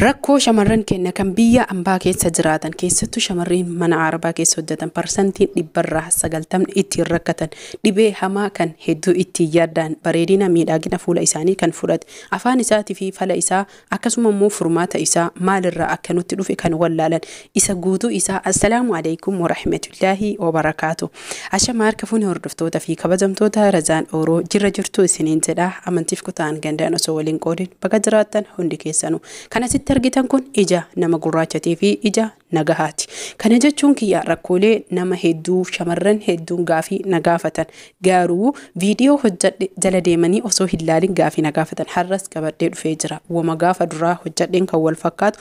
Rakkoo shamarran keenna kan biyya ambaa keessa jiraatan keessattu shamarriin mana aarabaa keessa hojjatan parsantiin dhibbarraa sagaltamni ittiin rakkatan dhibee hamaa kan hedduu ittiin yaaddaan bareedina miidhaagina fuula isaanii kan fudhate afaan isaatifi fala isaa akkasuma immoo furmaata isaa maalirraa akka nutti dhufe kan wallaalan isa guutuu isaa assalaamu alaikum warahmatullaahi wabarakaatu ashama harka fuuni hordoftoota fi kabajamtoota razaan ooroo jirra jirtuu isiniin jedha amantiif kutaan gandaan osoo waliin qoodin baga jiraattan hundi keessanu kan asitti argitan kun ija nama gurraachatii fi ija nagahaati kana jechuun kiyya rakkoolee nama hedduu shamarran hedduun gaafii nagaafatan gaaruu viidiyoo hojjadhe jala deemanii osoo hin laalin gaafii nagaafatan har'as qabadhee dhufee jira wama gaafa duraa hojjadheen kan wal fakkaatu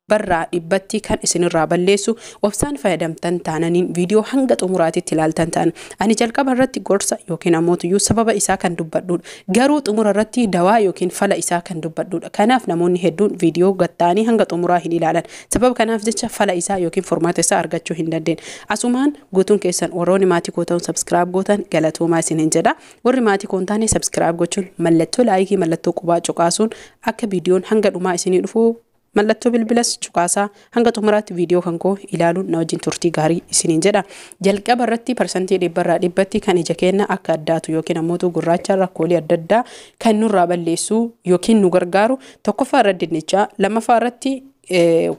barraa dhibbatti kan isinirraa balleessu obsaan fayyadamtan taananiin viidiyoo hanga xumuraatitti ilaaltan ta'an ani jalqaba irratti gorsa yookiin ammoo sababa isaa kan dubbadhuudha garuu xumura irratti dawaa yookiin fala isaa kan dubbadhuudha kanaaf namoonni hedduun viidiyoo gatta'anii hanga xumuraa hin ilaalan sababa kanaaf jecha fala isaa yookiin furmaata isaa argachuu hin dandeenye asumaan guutuun keessan warroonni maatii koo ta'uun sabskiraayib gootan galatoomaa isin hin jedha warri maatii koo hin taane sabskiraayib gochuun mallattoo laayikii mallattoo qubaa cuqaasuun akka viidiyoon hanga dhumaa isinii dhufu Mallattoo bilbilas cuqaasaa. Hanga xumuraatti viidiyoo kan koo ilaaluun na wajjin turtii gaarii isiniin jedha. Jalqaba irratti parsantii dhibba irraa dhibbatti kan ija keenya akka addaatu yookiin ammootuu gurraacha rakkoolee adda addaa kan nurraa balleessu yookiin nu gargaaru tokkoffaa irra dinnichaa lammaffaa irratti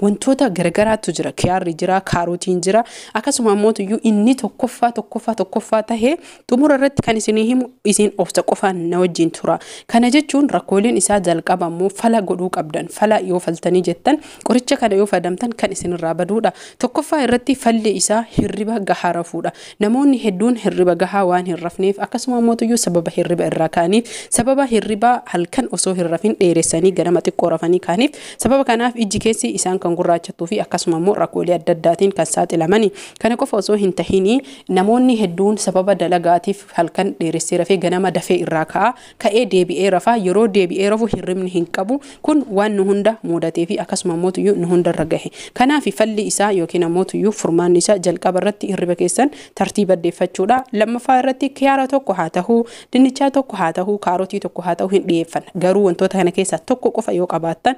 wantoota garagaraatu jira kiyaarri jira kaarotiin jira akkasuma ammootu iyyuu inni tokkoffaa tokkoffaa tokkoffaa tahee Xumura irratti kan isinii himu isin obsa qofaan na wajjin tura. Kana jechuun rakkooleen isaa jalqaba immoo fala godhuu qabdan. Fala yoo faltanii jettan qoricha kana yoo fadamtan kan isinirraa baduudha. Tokkoffaa irratti falli isaa hirriba gahaa rafuudha. Namoonni hedduun hirriba gahaa waan hin rafneef akkasuma ammootuyyuu sababa hirriba irraa ka'aniif sababa hirribaa halkan osoo hin rafin dheeressanii ganama xiqqoo rafanii ka'aniif sababa kanaaf ijji keessi isaan kan gurraachattuu fi akkasuma immoo rakkoolee adda addaatiin kan saaxilamani. Kana qofa osoo hin tahinii Namoonni hedduun sababa dalagaatiif halkan dheeressee rafee ganama dafee irraa ka'a. Ka'ee deebi'ee rafa. Yeroo deebi'ee rafu hirribni hin qabu. Kun waan nu hunda muudatee fi akkasuma ammoo tuyyuu nu hunda irra gahe. Kanaafi falli isaa ykn ammoo tuyyuu furmaanni isaa jalqaba irratti hirriba keessan tartiiba addeeffachuudha. Lammaffaa irratti kiyaara tokko haa tahu, dinnichaa tokko haa tahu, kaarotii tokko haa tahu hin dhiyeeffanna. Garuu wantoota kana keessaa tokko qofa yoo qabaattan,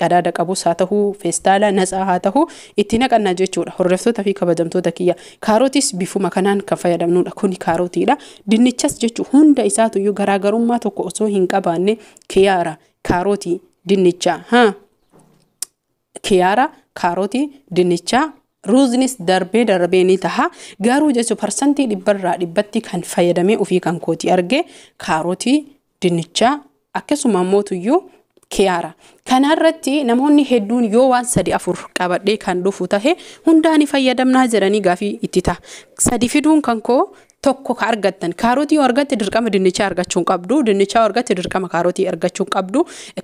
qadaada qabus haa tahu, feestaala natsaa haa tahu itti naqanna jechuudha. Hordoftoota fi kabajamtoota kiyya kaarotis bifuma kanaan kan fayyadamnuudha. Kuni kaarotiidha. Dinnichas jechu hunda isaatu iyyuu garaagarummaa tokko osoo hin qabaanne kiyaara, kaarotii, dinnicha, ha kiyaara, kaarotii, dinnicha, ruuznis darbee darbee ni taha. Garuu jechu parsantii dhibbarraa dhibbatti kan fayyadamee ofii kan kooti arge kaarotii, dinnichaa akkasuma ammoo tuyyuu kiyaara. Kana irratti namoonni hedduun yoo waan sadi afur qabadhee kan dhufu tahe hundaa ni fayyadamnaa jedhanii gaafii itti ta'a. Sadi fiduun kan koo tokko ka argattan kaarotii yoo argatte dirqama dinnichaa argachuu hin qabdu dinnichaa yoo argatte dirqama kaarotii argachuu hin qabdu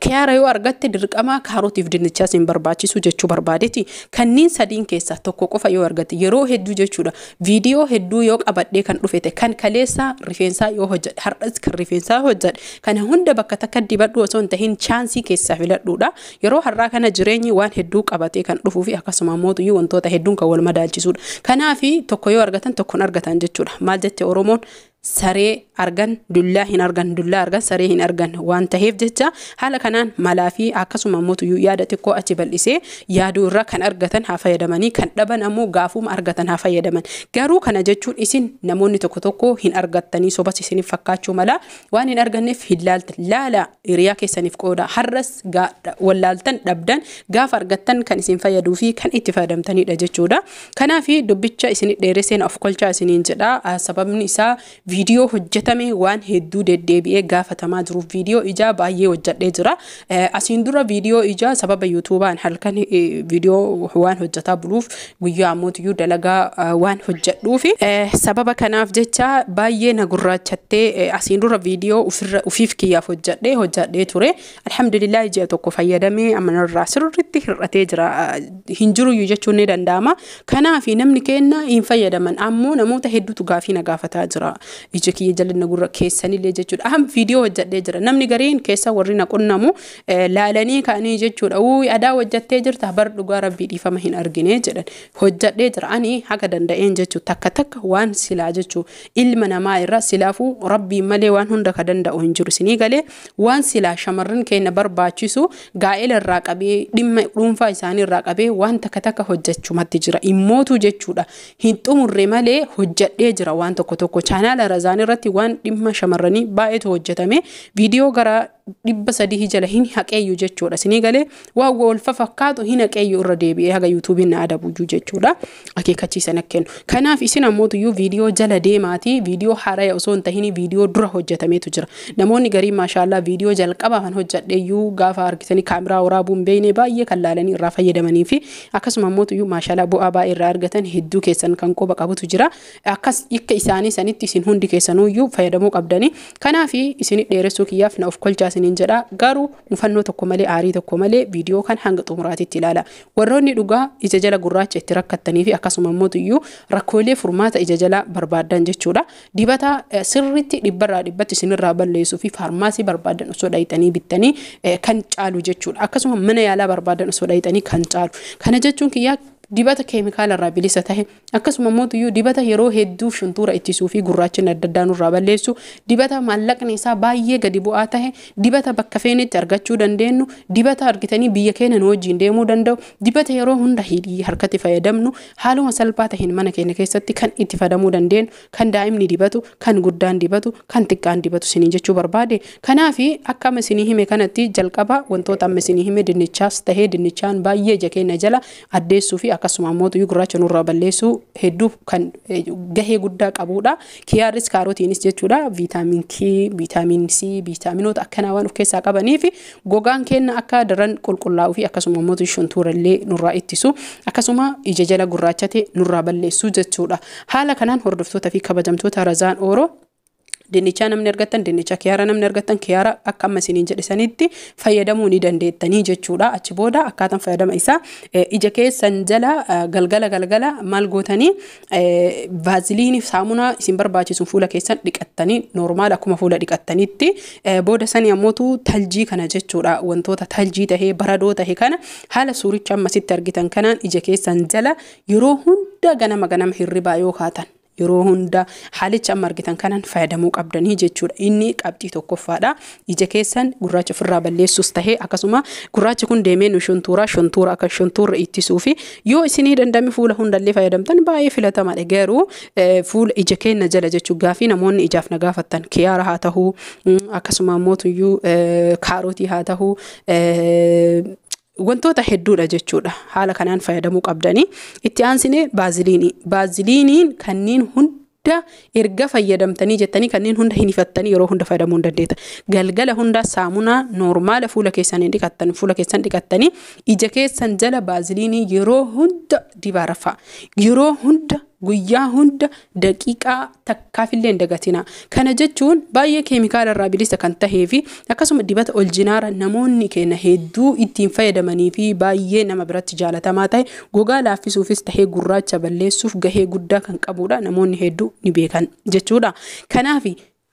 kiyaara yoo argatte dirqama kaarotiif dinnichaa sin barbaachisu jechuu barbaadeti kanniin sadiin keessaa tokko qofa yoo argatte yeroo hedduu jechuudha Viidiyoo hedduu yoo qabadhee kan dhufete kan kaleessaa rifeensaa yoo hojjedhe har'as kan rifeensaa hojjedhe kana hunda bakka takka dibadhu osoo hin tahin chaansii keessaa filadhuudha. Yeroo har'aa kana jireenyi waan hedduu qabatee kan dhufuu fi akkasuma mootuyyuu wantoota hedduun kan wal madaalchisuudha. Kanaafi tokko yoo argatan tokkon argatan jechuudha. Maal jette Oromoon saree argan dullaa hin argan dullaa argan saree hin argan waan taheef jecha haala kanaan malaa fi akkasuma immoo tuyyuu yaada xiqqoo achi bal'isee yaaduu irraa kan argatan haa fayyadamanii kan dhaban ammoo gaafuma argatan haa fayyadaman garuu kana jechuun isin namoonni tokko tokko hin argattanii sobas isiniif fakkaachuu mala waan hin arganneef hin laaltan laala hiriyaa keessaniif qooda har'as gaa- wallaaltan dhabdan gaafa argattan kan isin fayyaduu fi kan itti fayyadamtanidha jechuudha Kanaafi dubbicha isini dheerese na of kolchaa isiniin jedha sababni isaa viidiyoo hojjetame waan hedduu deddeebi'ee gaafatamaa jiruuf viidiyoo ijaa baay'ee hojjedhee jira asiin dura viidiyoo ijaa sababa yuutuubaan halkan viidiyoo waan hojjetaa buluuf guyyaa ammootiyyuu dalagaa waan hojjedhuufi sababa kanaaf jecha baay'ee na gurraachattee asiin dura viidiyoo ofiif kiyyaaf hojjedhee hojjedhee ture Alhamdulillah ji'a tokko fayyadamee amma narraa sirriitti hir'atee jira hin jiruyyuu jechuun ni danda'ama. Kanaaf namni keenya hin fayyadaman ammoo namoota hedduutu gaafii na gaafataa jira. Ija kiyya jal'ina gurra keessanillee jechuudha. Aham viidiyoo hojjedhee jira. Namni gariin keessa warri na qunnamu eh, laalanii ka'anii jechuudha. Uui adaa hojjettee jirta bar dhugaa rabbii dhiifama hin argine jedhan. Hojjedhee jira ani haga danda'een jechuu takka takka waan silaa jechuu ilma namaa irra silaafuu rabbiin malee waan hunda ka danda'u hin jiru isinii galee Waan silaa shamarran keenna barbaachisu gaa'ela irraa qabee dhimma dhuunfaa isaanii irraa qabee waan takka takka hojjachumatti jira. Immootuu jechuudha hin xumurre malee hojjadhee jira waan tokko tokko. Chaanaala Razaan irratti waan dhimma shamarranii baay'eetu hojjatame. Viidiyoo gara dhibba sadii jala hin haqeeyyu jechuudha. Sinii galee waan wal fafakkaatu hin haqeeyyu irra deebi'ee haga yuutuubiin na adabuyyuu jechuudha. akeekachiisa na kennu. Kanaaf isin ammootuyyuu viidiyoo jala deemaatii viidiyoo haaraya osoo hin tahinii viidiyoo dura hojjetameetu jira. Namoonni garii maashaallaa viidiyoo jalqabaa kan hojjedheyyuu gaafa argitanii kaamiraa waraabuu hin beekne baay'ee kan laalanii irraa fayyadamanii fi akkasuma ammootuyyuu maashaalaa bu'aa baay'ee irraa argatan hedduu keessan kan quba qabutu jira. Akkas akka isaanii sanitti isin hundi keessanuyyuu fayyadamuu qabdanii. Kanaaf isin dheeressuu kiyyaaf na of kolchaa isiniin jedha. Garuu mufannoo tokko malee aarii tokko malee viidiyoo kan hanga xumuraatitti ilaala. Warroonni dhugaa ija jala gurraacha itti rakkattanii fi akkasuma immoo iyyuu rakkoolee furmaata ija jalaa barbaaddan jechuudha. Dibata sirriitti dhibbarraa dhibbatti isinirraa balleessuu fi faarmaasii barbaaddan osoo dhayxanii bittanii kan caalu jechuudha. Akkasuma mana yaalaa barbaaddan osoo dhayxanii kan caalu. Kana jechuun kiyyaa dibata keemikaalarraa bilisa tahe Akkasuma immoo tuyyuu dibata yeroo hedduuf shuntuura ittisuu fi gurraachinni adda addaa nurraa balleessu, dibata maallaqni isaa baay'ee gadi bu'aa tahe, dibata bakka feenetti argachuu dandeenyu, dibata argitanii biyya keenya nu wajjiin deemuu danda'u, dibata yeroo hunda hidhii harkatti fayyadamnu, haaluma salphaa taheen mana keenya keessatti kan itti fadamuu dandeenyu, kan daa'imni dibatu, kan guddaan dibatu, kan xiqqaan dibatu siniin jechuu barbaade. Kanaaf akka amma isinii hime kanatti jalqaba wantoota amma isinii hime dinnichaas tahee dinnichaan baay'ee ija keenya jala addeessuu fi akkasuma ammoo xuyyuu gurraacha nurraa balleessuu hedduu kan eh, gahee guddaa qabuudha. Kiyaaris kaarotiinis jechuudha viitaamin K, viitaamin C, viitaaminoota akkanaa waan of keessaa qabanii fi gogaan keenya akka daran qulqullaa'uu fi akkasuma ammoo shuntuura illee nurraa ittisu akkasuma ija jala gurraachate nurraa balleessuu jechuudha. Haala kanaan hordoftoota fi kabajamtoota Razaan Ooroo Dinnichaa namni argattan dinnicha kiyaara namni argattan kiyaara akka amma isiniin jedhe sanitti fayyadamuu ni dandeettanii jechuudha. Achi booda akkaataan fayyadama isaa eh, ija keessan jala eh, galgala galgala maal gootanii eh, vaaziliinii saamunaa isin barbaachisuun fuula keessan dhiqattanii noormaal akkuma fuula dhiqattanitti eh, booda sanii ammootu taljii kana jechuudha wantoota taljii tahee baradoo tahe kana haala suuricha ammasitti argitan kanaan ija keessan jala yeroo hunda ganama ganama hirribaa yoo kaatan yeroo hunda haalicha amma argitan kanan fayyadamuu qabdanii jechuudha. Inni qabxii tokkoffaadha. Ija keessan gurraacha ofirraa balleessuus tahee akkasuma gurraachi kun deemee nu shuntuuraa shuntuura akka shuntuurra ittisuu fi yoo isinii dandame fuula hundallee fayyadamtan baay'ee filatamaadha. Garuu fuula ija keenna jala jechuu gaafii namoonni ijaaf na gaafattan kiyaara haa tahuu akkasuma mootuyyuu kaarootii haa tahuu Wantoota hedduudha jechuudha. Haala kanaan fayyadamuu qabdanii. Itti aansinee baaziliinii. Baaziliiniin kanneen hunda erga fayyadamtanii jettanii kanneen hunda hin hifattanii yeroo hunda fayyadamuu hin dandeetta. Galgala hundaa saamunaa noormaala fuula keessan hin dhiqattan fuula keessan dhiqattanii ija keessan jala baaziliinii yeroo hunda dibaa rafaa. Yeroo hunda Guyyaa hunda daqiiqaa takkaafillee hin dagatinaa. Kana jechuun baay'ee keemikaala irraa bilisa kan tahee fi akkasuma dibata oljinaara namoonni keenya hedduu ittiin fayyadamanii fi baay'ee nama biratti jaalatamaa tahe gogaa laaffisuufis tahee gurraacha balleessuuf gahee guddaa kan qabuudha namoonni hedduu ni beekan jechuudha. Kanaaf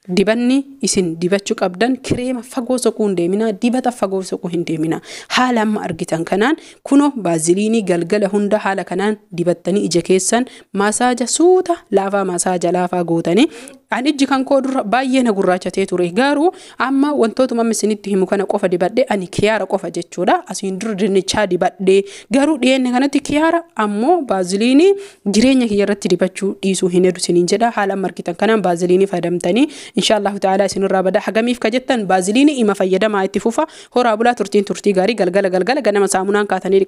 Dibanni isin dibachu qabdan kireema fagoo soquu hin deeminaa, dibata fagoo soquu hin deeminaa. Haala amma argitan kanaan kuno baaziliinii galgala hunda haala kanaan dibattanii ija keessan maasaaja suuta laafaa maasaaja laafaa gootanii an ijji kan koo dura baay'ee na gurraachatee ture garuu amma wantootuma amma isinitti himu kana qofa dibadhe ani kiyaara qofa jechuudha asiin dura dinnichaa dibadhe garuu dhiyeenya kanatti kiyaara ammoo baaziliinii Jireenya kiyya irratti dibachuu dhiisuu hin hedu siniin jedha. Haala amma argitan kanaan baaziliinii fayyadamtanii inshaa Allahu ta'aalaa isinirraa bada. Hagamiif ka jettan baaziliinii ima fayyadamaa itti fufa. Horaa bulaa turtiin turtii gaarii galgala galgala ganama saamunaan kaatanii